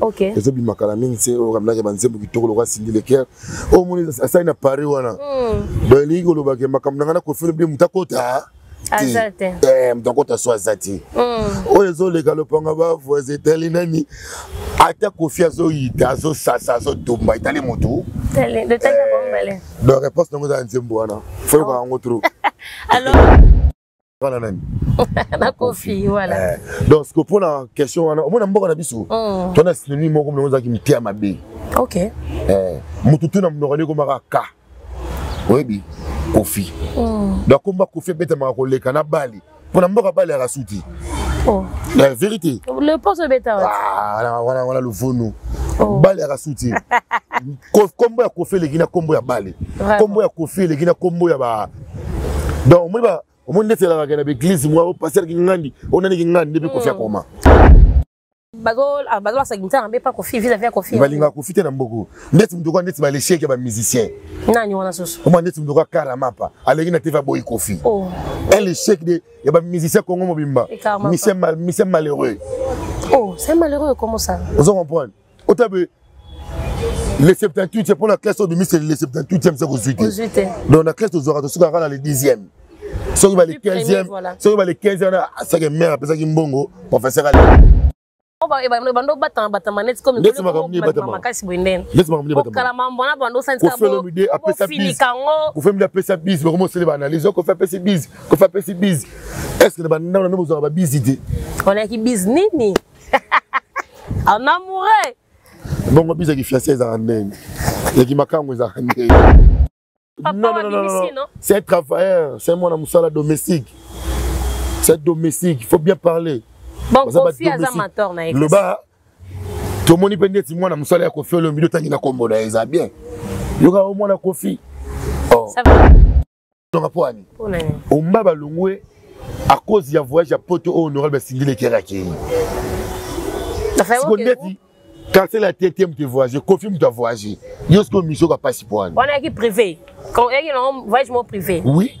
okay. ezobima kala mingi se oyo kaminaki banzembo kitoko lokola sindi leker oyo moni asali na paris wana mm. donc elingi kolobake makambo na ngai nakofele bile moto akota eh, moto akota so aza te mm. oyo ezoleka lopanga bavoise etali nani ata kofi azoyita azosasa azotumba etali motu eh, donc réponse nango eza na nzembo wana foyoka oh. yango trop nga na nani na kofi voilà eh, donc siko mpo na question wana omona mboka na biso mm. tona synonyme moko mlongo ezalaki mtia mabe ok eh, motu tu na mnokani ekomaka ka oyebi kofi mm. donc komba kofi ebetamaka koleka na bali mpo na mboka bali yaka suti oh. la vérité le poso ebeta ah, wana wana luvunu oh. bali yaka suti kombo ya kofi eleki na kombo ya bale kombo ya kofi eleki na kombo ya ba donc omoni omoni ndeti elakaka na baeglise mwa opaster kingandi onani kingandi nde mpe kofi akoma bazolakisa kinsa na mpe pa kofi vis avis ya kofi balingaka kofi te na mboko ndeti motoka ndeti balesheke ya bamusicien nani wana susu oma ndeti motoka karamapa aleki na tv aboyi kofi oh. un lesheke de ya bamusicien congo mobimba mise malheureux oh c'est malheureux comment ça ozo comprendre otabe le 78 mpo na classe oyo bimisi le 78e se kozwi te donc na classe tozwaka tosukaka kaka na le 10e soki ba le 15e soki ba le 15e wana asaki mare apesaki mbongo professeur ale bando batama batama neti komimakasi boye ndenekala mambo wana bando osantisaofemide apesa bise bakoma osele baanalyse okofi apesi bise kofi apesi bise estce na bandambo na mbe bozwaka babise te onayaki bise nini en amoureux bongo biza ki fiancé ezaka ndenge ya ki makango ezaka ndenge non, non, non, non, non. c'est un travailleur c'est mwana mosala domestique c'est domestique il faut bien parler bon kofi aza mator na ye loba tomoni mpe ndeti mwana mosala ya kofi olombi otangi na kombo na ye eza bien yoka o mwana kofi oh. nonga mpo ani omba balongwe à cause ya voyage ya poto oyo honorable asingeleki yaka akei siko ndeti kansela ya tete moto evoyage kofi moto avoyage yo sikoyo misio ka mpasi mpo ani wana yaki privé yaki nango voyage mo privé oui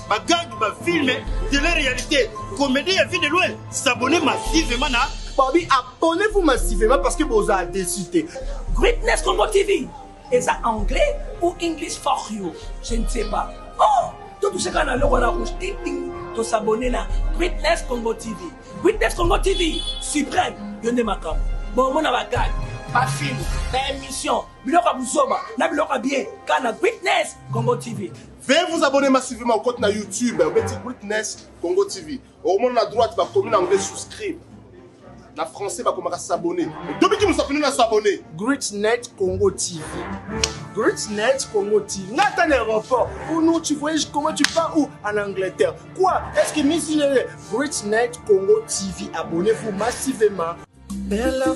bagangi bafilme de la réalité comédie ya vie de loin s'abonne massivement na babi abonnez-vous massivement parce que bozala déçu te greatness congo tv eza anglais ou english for you je ne sais pas oh totushaka na loko na rouge ting ting tosabone na greatness congo tv greatness congo tv suprême yo nde makambo bomona bagage bafilme baémission biloko ya buzoba na biloko ya bien kana greatness congo tv Veuillez vous abonner massivement au compte na YouTube obeti Witness Congo TV. Okomona na droite bakomi na anglais souscribe. Na français bakomaka s'abonner. Tobi ki musapino na s'abonner. Greatnet Congo TV. Greatnet Congo TV. Nga ata na aéroport. Oh non, tu voyages comment tu pars où En Angleterre. Quoi Est-ce que Miss Lele Greatnet Congo TV. Abonnez-vous massivement. Bella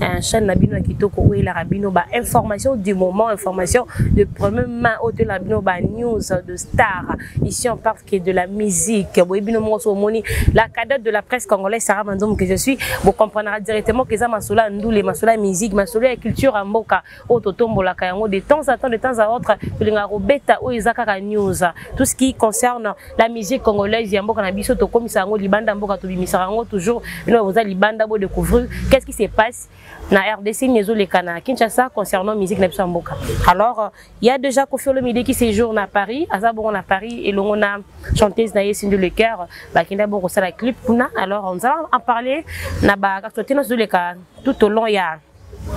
un chaîne na bino ya kitoko oyo elaka bino ba information du moment information de première main oyo toyelaka bino ba news de star ici en parle que de la musique boye bino moko so omoni la cadette de la presse congolaise Sarah Manzomo que je suis vous comprendra directement que eza masolo ya ndule masolo ya musique masolo ya culture ya mboka oyo totombolaka yango de temps à temps de temps à autre tolingaka kobeta oyo eza kaka news tout ce qui concerne la musique congolaise ya mboka na biso tokomisa yango libanda mboka tobimisaka yango toujours bino boza libanda bo découvrir qu'est ce qui se passe na rdc nini ezoleka na kinshasa concernant musique na biso ya mboka alors euh, il y a déjà kofi olomide qui séjour na paris aza bongo na paris elongo na chanteuse na ye sindi le cœur bakenda bongo kosala clip kuna alors nzala en parler na bakactotena ezoleka tout au long ya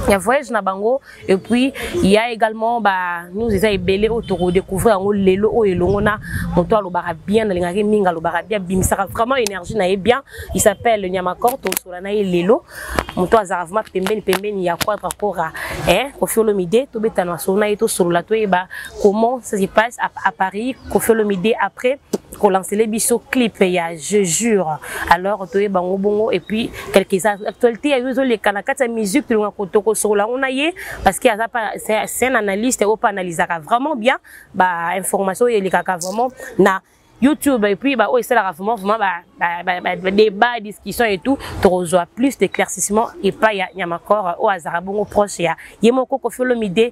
Il y a voyage na bango et puis il y a également bah nous eza ebele oyo toko découvrir yango lelo oyo elongo na moto alobaka bien nalingaki mingi alobaka bien bimisaka vraiment énergie na ye bien il s'appelle Nyamakor tosola na ye lelo moto azalaka vraiment pembeni pembeni ya quadra kora hein Koffi Olomide tobetana masolo na ye tosolola toyeba comment ça se passe à, à Paris Koffi Olomide après kolancele biso clip ya je jure alors toyeba ngo bongo et puis quelques actualité ya yo ezoleka na kati ya musique tolonga tokosokola yango na ye parce que aza pa c'est un analyste oyo mpe analysaka vraiment bien ba information oyo elekaka vraiment na YouTube et puis bah oh c'est la vraiment vraiment bah, bah, bah, bah, bah débat discussion et tout tu reçois plus d'éclaircissement et pas il y a il y a encore au hasard bon proche il y a il y a mon coco Fiolomide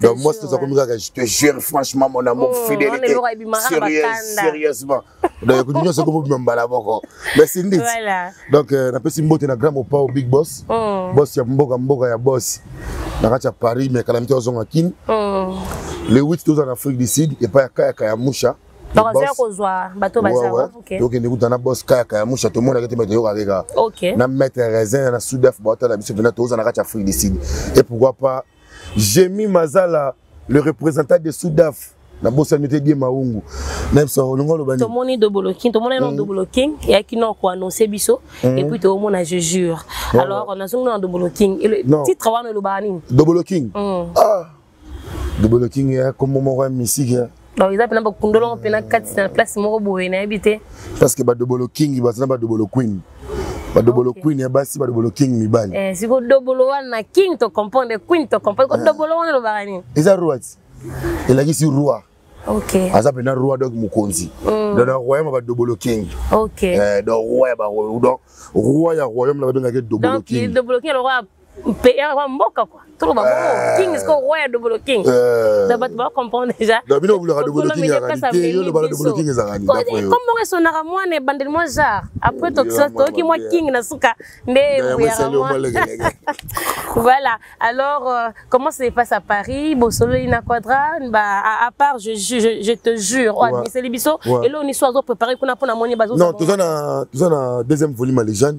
donc moi toza komi kaka je te jure franchement mon amour oh, fidélité sérieuse sérieusement donc ekuti nyonso ekobobima mbala moko merci ndit donc euh, napesi mbote na grand mopao big boss oh. boss ya mboka mboka ya boss na kati ya paris mais kalamite ozonga kini oh. le 8 toza na afrique du sud epai ya kayaka ya musha bakozala kozwa bato bazala tokende kuta na bos kaka ya musha tomonaka te me toyokaka kaka na maître raisin na sudaf baotala biso mpena tozala na kati ya afrique du sud et pourquoi pas Jemi Mazala, le représentant de Soudaf, na bosani te die maungu na biso olingi oloba nini tomoni double king tomoni na mm. double king eyaki na koannonce biso mm. epuis toomona je jure alors nazongi na double king titre wana elobaka nini double king mm. ah double king ya kombo moko ya misiki donc eza mpena bakundolongo mpena kati na place moko boye nayebi te parce que badobolo king baza na badobolo queen badobolo okay. queen ya basi badobolo king mibali eh, siko dobolo wana king to comprendre queen to comprendre ko ah. dobolo wana elobaka nini eza roati elakisi roi okay. aza mpena roi donc mokonzi mm. donc na royaume ya badobolo king okay. eh, donc roi ya baroi donc roi ya royaume na babengaki dobolo king mpe ya mboka kwa toloba bongo eh. king siko roi ya dobolo king eh. na bato bacomprendre déjà na bino bolaka dobolo king ezalaka te yo lobala dobolo king ezalaka nini comme bongo esonaka mwana ebandeli mwa genre après tokisa toyoki mwa king na suka nde boyaka mwa voilà alors euh, comment ça se passe à Paris bosololi na quadra bah à, à part je, je, je te jure oyo abimiseli biso eloo niso azo préparer kuna mpo na moni bazo non toza na toza na deuxième volume ya légende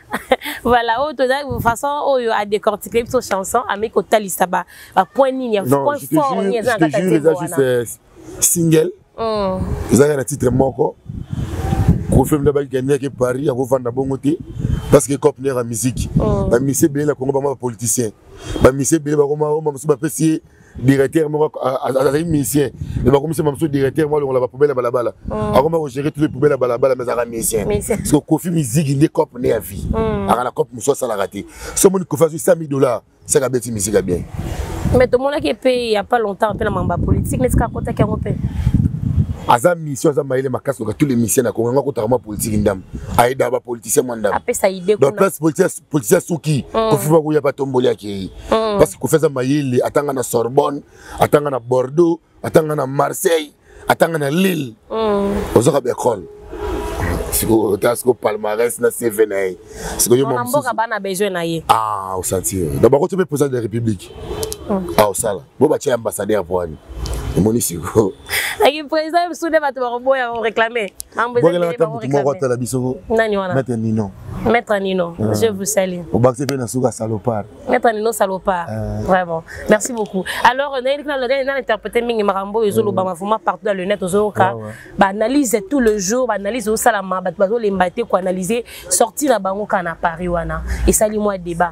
voilà oyo toza façon oyo a décortiquer biso chanson ami kotalisa ba ba point nini ya point fort ni eza na kati ya eza juste euh, single mm. eza na titre moko kofilm nde bakikendeke paris akofanda bongo te parce que cop nera musique mm. bamisi ebele na congo bama bapoliticien bamisi ebele bakoma oma mosusu bapesi ye directeur moko azali musicien me bakomisa ma mosusu directeur moko alongola bapoubele ya balabala oh. akoma kogere tuto poubele ya balabala me azalaka musicien parceke kofi miziki nde cope nde ya vie hmm. aka na cope mosusu asalaka te so omoni kofi azwi 100 dollar seke abeti miziki ya bien mais tomonaki mpe ya pas longtemps mpe na mambo ya politique nde sika akotaki yango mpe aza mission aza mayele makasi loka tous les misien na kongo yango akotaka mwa politiki ndambo ayedaka bapoliticien mwa ndambo place politisi ya suki mm. kofi bakoya batomboli akei mm. parce kofi aza mayele atanga na sorbonne atanga na bordeaux atanga na marseille atanga na lille mm. ozwaka baekole sikoyo ta sikoyo palmarès na cv na ye sikoyomboka bana besoin na ye ah osanti donc bakoto mpe président de la république ah osala bo batya ambassadeur voani omoni siko naki président bisu nde bato bakoboya koréclame moko atala biso nani wana maître nino maître nino ah. je vous salue obakisi mpe na suka salopard maître nino salopard ah. vraiment merci beaucoup alors nayebi na interprété mingi makambo oyo ezolobama vraiment partout dans le net ozoyoka baanalyse tout le jour baanalyse osalama bato bazolemba te koanalyse sorti na bango kana paris wana esali mwa débat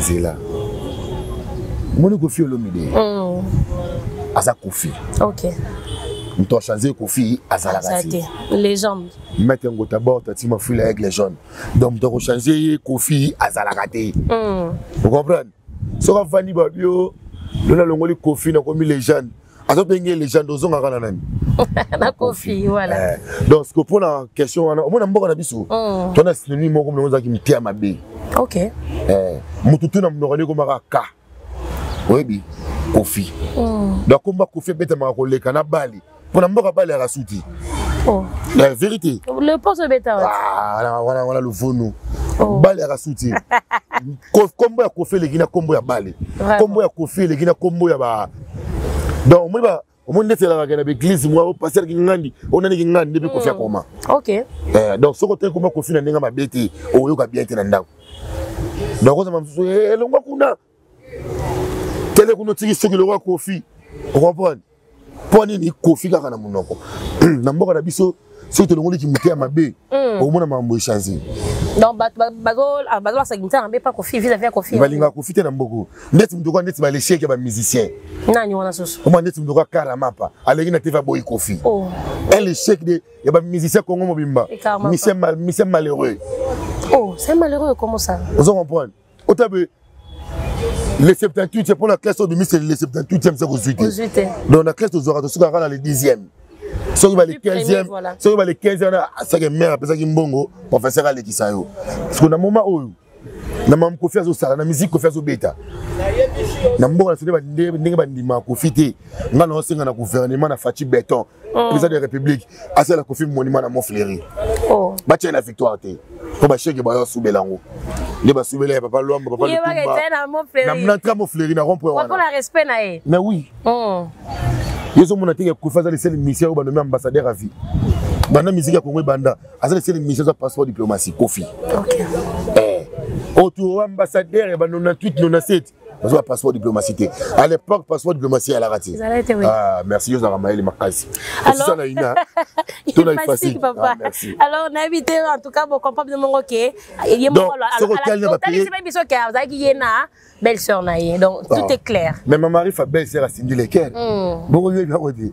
zela moni kofi olomide mm. aza kofi okay. moto achange kofi azalaka te légende mete yango tabord tati mafui la aigle jaune donc moto akochange ye kofi azalaka te mm. ocomprendre soki avandi babio lona alongoli kofi nakomi légende azo penge legende ozongaka na nani na kofi voilà eh, donc siko mpo na question wana omona mboka na biso mm. tona synonyme moko mlongo ozalaki mtia mabe ok eh, motu tu na monoko ekomaka ka oyebi kofi mm. donc komba kofi ebetamaka koleka na bali mpo na mboka bali yaka suti oh. la vérité le poso ebeta ah, wana wana luvunu oh. bali yaka suti kombo ya kofi eleki na kombo ya bale kombo ya kofi eleki na kombo ya ba donc omoni omoni ndeti elakaka na baeglise mwa opaster kingandi onani kingandi nde mpe kofi akoma eh, donc soki otaki koma kofi na ndenge mabe te okoyoka bien te na ndako donc ozama mosusu eh, elongwa kuna tele kuna otiki soki elongwa kofi okomprendre mpo nini kofi kaka na monoko na mboka na biso soki tolongoli kimite ya mabe hmm. okomona makambo echange donc bato bazolakisa kimite ya mabe mpa kofi visavi ya kofi balingaka kofi te na mboko ndeti moto kwa ndeti balesheke ya bamusicien nani wana susu oma ndeti moto kwa karamapa aleki na tv aboyi kofi oh. un échec de ya bamusicien congo mobimba mise malheureux oh c'est malheureux comment ça ozo comprendre otabe le 78 mpo na classe oyo bimisi le 78e se kozwi te donc na classe tozwaka tosukaka kaka na le 10e soki bale 15e soki bale 15e wana asake mare apesaki mbongo professeur alekisa yo parceke na moma oyo na mamu kofi azosala na miziki kofi azobeta na mboka na sone ndenge bandimaka kofi te ngai naosenga na gouvernement na faci beton oh. président de la république asala kofi monima na mofleri oh. batya na victoire te mpo basheke bayo asubela yango nde basubela ya papa lwamba papa lutumbanantra mofleri na rompre wana respect na ye mais oui oh. ye ozomona te kofi aza liseli misio oyo banomi ambassadeur à vie banda miziki ya kongo ebanda aza liseli misio aza passeport diplomatie kofi okay. eh. oyo oh, tu ambassadeur ya ba 98 97 bazwa passeport diplomatie te à l'époque passeport diplomatie eyalaka te ah, merci yo ozalaka mayele makasi osisa na ina to na efasile ah, alors nayebi te en tout cas bocomprendre bino moko ke ye mokotalisibai biso ke azalaki ye na belle sœur na ye donc ah. tout est clair mais ma mari fa belle sœur asindi leker hmm. bongo yo ebiango te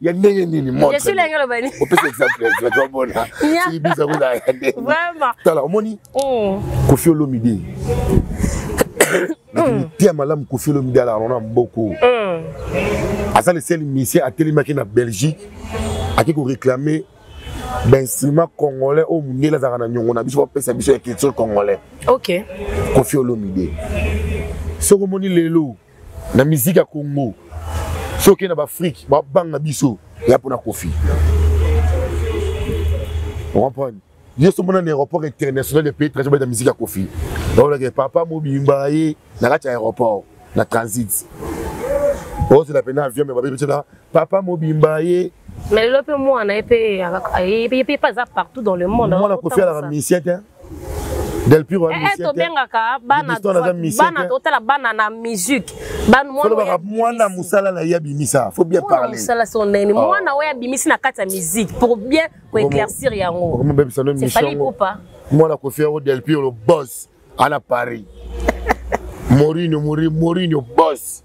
ya ndenge nini moopesa exemple tobona ibisa kozala ya ndenge tala omoni mm. kofi olomide mm. tia malamu kofi olomide alala na mboko mm. aza leseli misie atelemaki na belgique ake koreklame bainstrument congolais oyo mondele azalaka na nyongo na biso bapesa biso ya culture congolais kofi olomide soki omoni lelo na miziki ya congo soki na baafrike babanga biso ya mpona kofi comprendre yo so mona na aéroport international ya pays transit beta miziki ya kofi baolaka papa mobimba ye na kati ya aéroport na transit ozela mpena avion me babebetela papa mobimba ye mais lelo mpe mwana ye mpe ayebi ye mpe aza partout dans le monde mwana kofi alaka musicien te Del Piro eh, eh, tobengaka bana totala bana na musique banolobaka mwana mosala na ye abimisa faut bien parlermosala soko ndenge nini ah. mwana oyo abimisi na kati ya musique pour bien koéclaircir yango mwana kofi yango Del Piro boss ana Paris Mourinho Mourinho boss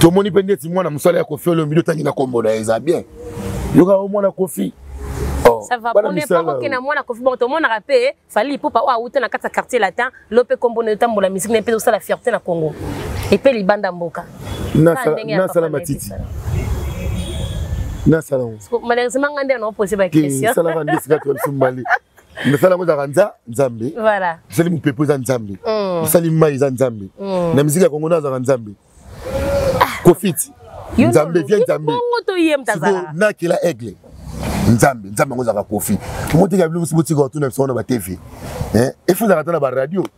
tomoni mpe ndeti mwana mosala ya kofi olombi otangi na kombo na ye eza bien yoka o mwana kofi oh, ça va pone pako ke na mwana kofi bon tomonaka mpe fali ipupa oyo awuta na kati ya quartier latin lo mpe kombo na etambola misiki na mpe tosala fierté na congo epe libanda mboka nasala matiti nasala yango malheureusement ngai nde anaopose baquestion esalaka nde esika to ya biso mbali misala yango ezalaka nza nzambe misali mopepo eza nzambe mm. misali mai eza nzambe mm. na miziki ya kongo nde azalaka nzambe ah. kofiti nzambe vie nzambe nakela aigle nzambe nzambe yango ezalaka kofi omoteka bino mosi botika batuna biso wana batv efo ezalaka ata na baradio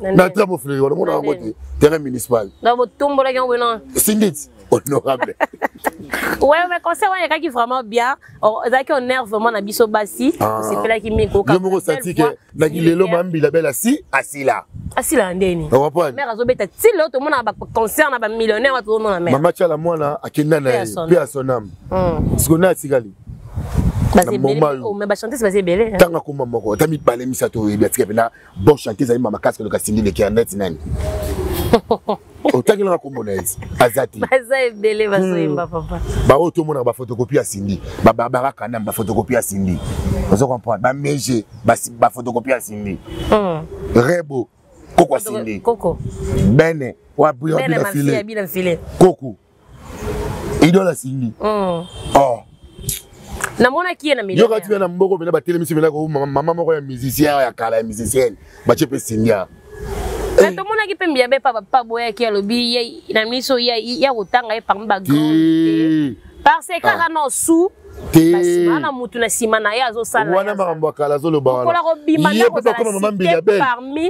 na trambo fleri wana mona yango te terrain municipal donc botombolaki yango boyena singit honorable ouais mais conseil wana ekaki vraiment bien ezalaki honneur vraiment na biso basi ah. osepelaki mingi koka yo moko osati ke na kilelo mambila bela si asila asila ndeni mère azobeta ti lelo tomonaka baconcert na bamillionnaire wa tozomona mère mama tiala mwana akenda na ye mpe ya son ame hmm. siko naye atikali na moma yo oh, ntango akoma moko ata mibale misato oyebi atika mpe na Bon chantier ezali mama kasi koleka Cindy leki ya net nani otangelaka kombo na ye aza te baza ebele bazoyemba hmm. papa baoyo tomonaka bafotokopi ya sindi babarbara kanam bafotokopi ya sindi ozo comprendre bamege bafotokopi ya sindi hmm. rebo koko ya sindi bene wa buyabinafile koko idole asimbi mm. oh. namonaki ye na yoka tina na mboko mpena batelemisi mpena ko mama moko ya musicien ya kala ya musicienne batie mpe sindia eh. tomonaki mpe mbiya be pa boyaki alobi na miso ya kotanga ye parmi bagrande parce que kaka ah. na osu bana motu na nsima na ye azosala wana makambo ya kala azoloba wana ye mpe bakoma mama mbiya bele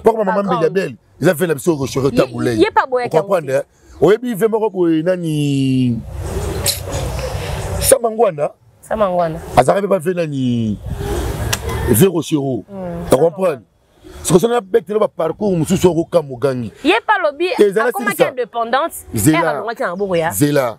bakoma mama mbiya bele eza mpe na biso okoshore tabulei okomprendre oyebi ve moko boye nani sama ngwanda sama ngwanda azalaka mpe bave nani ve rosero mm. ocomprendre soki soki nabetela baparcours mosusu okoka mogangi ye mpe alobi akomaki indépendance alongaki na maboko ya zela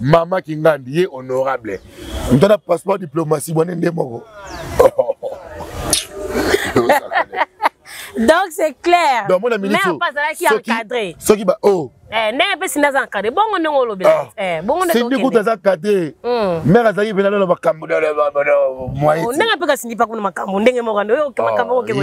mama kingandi ye honorable ntana passeport diplomatie bwane nde moko donc c'est clair donc mona minute mais pas là qui encadré ce qui ba oh eh ndenge pe sinda za encadré bongo ndenge olobela ah. eh bongo ndenge sindi kuta za cadré hmm. mère azali pe na makambo na moyen oh, ndenge pe ka sindi pa kuna makambo ndenge moko ndo yo makambo ko ke ko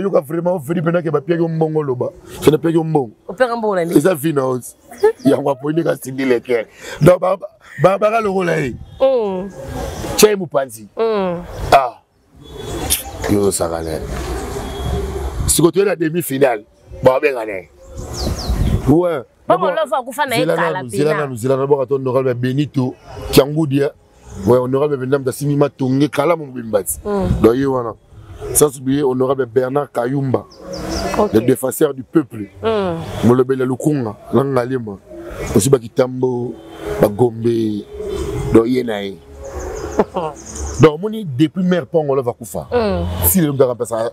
yoka vraiment ofeli mpena ke bapiaki yo mbongo oloba so napiaki yo mbongo eza vi na ozi yango aponi kasindi lekere donc baka lokola ye mm. tya ye mopanzi mm. ah. yo ozosaka na ye siko toye na demi finale babenga na ye we zela nanu zela nanu boka to nokal ba benito kiangudia ouais honorable bendam da simi matonge kala mo bimbati mm. donc ye wana sans oublier honorable bernard kayumba okay. le défenseur du peuple mm. molobeli ya lukunga na ngalema osi bakitambo bagombe donc ye na ye donc omoni depuis mare mpo angola vakufa mm. si lelo mpe akampesa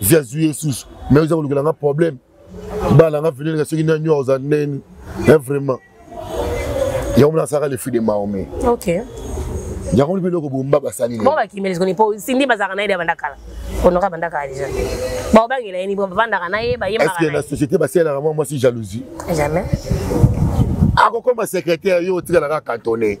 vie azwi ye susu me oza kolukela nga problème bana nga velenga soki nani oyo aza neni e vraiment yango mona asaka le fui de maome okay. yango mpe eloko bomba basali bo bakimeli soni mpo sindi bazalaka na ye de abanda kala onoka abanda kala deja baobangela ye ni bo bavandaka na ye bayembaka na société basalelaka mwa mwasi jalousie jamais akokoma secrétaire yo otikalaka cantonne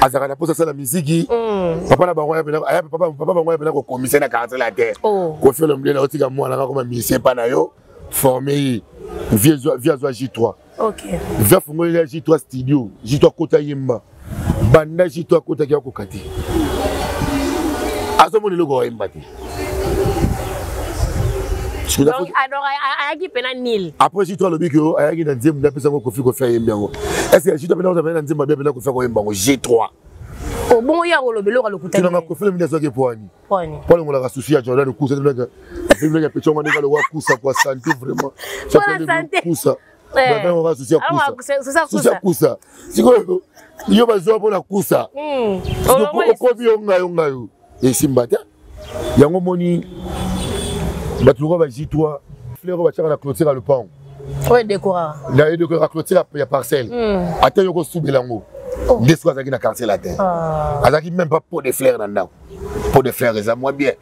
azalaka na mposa asala miziki mm. papa na bango papa bango yapena kokomisa na quartier la terre oh. kofi olomide na otika mwana kakoma misie epa na yo forme ye vie azwa j3 vie afungoli ya j3 studio j3 akota yemba banda j3 akotaki akoka te azomona eloko ayemba te ayaki mpe na nil après jito alobi ke ayaki na nzembo nde apesa yango kofi kofi ayembi yango est ce que jito mpe na ozabali na nzembo abi apena kofi akoyemba yango g 3 obongo ye akoloba eloko alokutana kofela mini azwaki poani palongolaka susi ya jordan kusa afinaki ya petongo ndenge alokola kusa kwa sante vraiment kusa babengoka susi ya kusa susi ya kusa sikoyo yo bazwa mpo na kusa okomi yo ngayo ngayo esimba te yango moni bato lokola bazitwa fleur oyo batiaka na clotire ya lopango oyo edekoraka na edekoraka clotire ya parcelle hmm. ata yoko osubela yango oh. nde soki azalaki na quartier latin ah. azalaki même pas pot de fleur na ndako pot de fleur eza mwa bien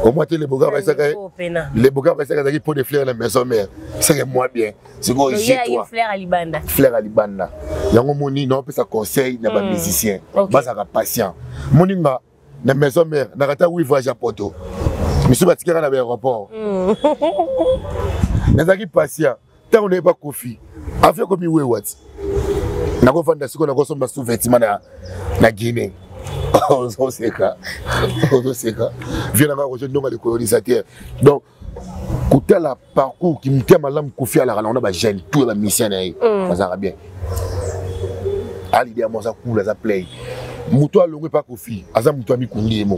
omwa te leboka baisaka leboka baisaka azalaki pot de fleur na maison mère seke mwa bien sikoyo je toi fleur alibanda fleur alibanda yango moni na opesa conseil na ba hmm. musicien bazaka patient moni nga na maison mère na kata oui voyage à Porto misu batikaka na ba aéroport hmm. nazalaki patient ntango naye bakofi afi ekomi wewati nakofanda sikoyo nakosomba sous vêtement na, na guinée ozoseka ozoseka vie nanga kozo ndonga likolo lisa te donc kotala parcours kimotema malamu kofi alaka nango na bajeune tout ya bamisien na ye mm. bazalaka bien alide yango aza cool aza play moto alongwe mpa kofi aza moto ya mikundi ye moko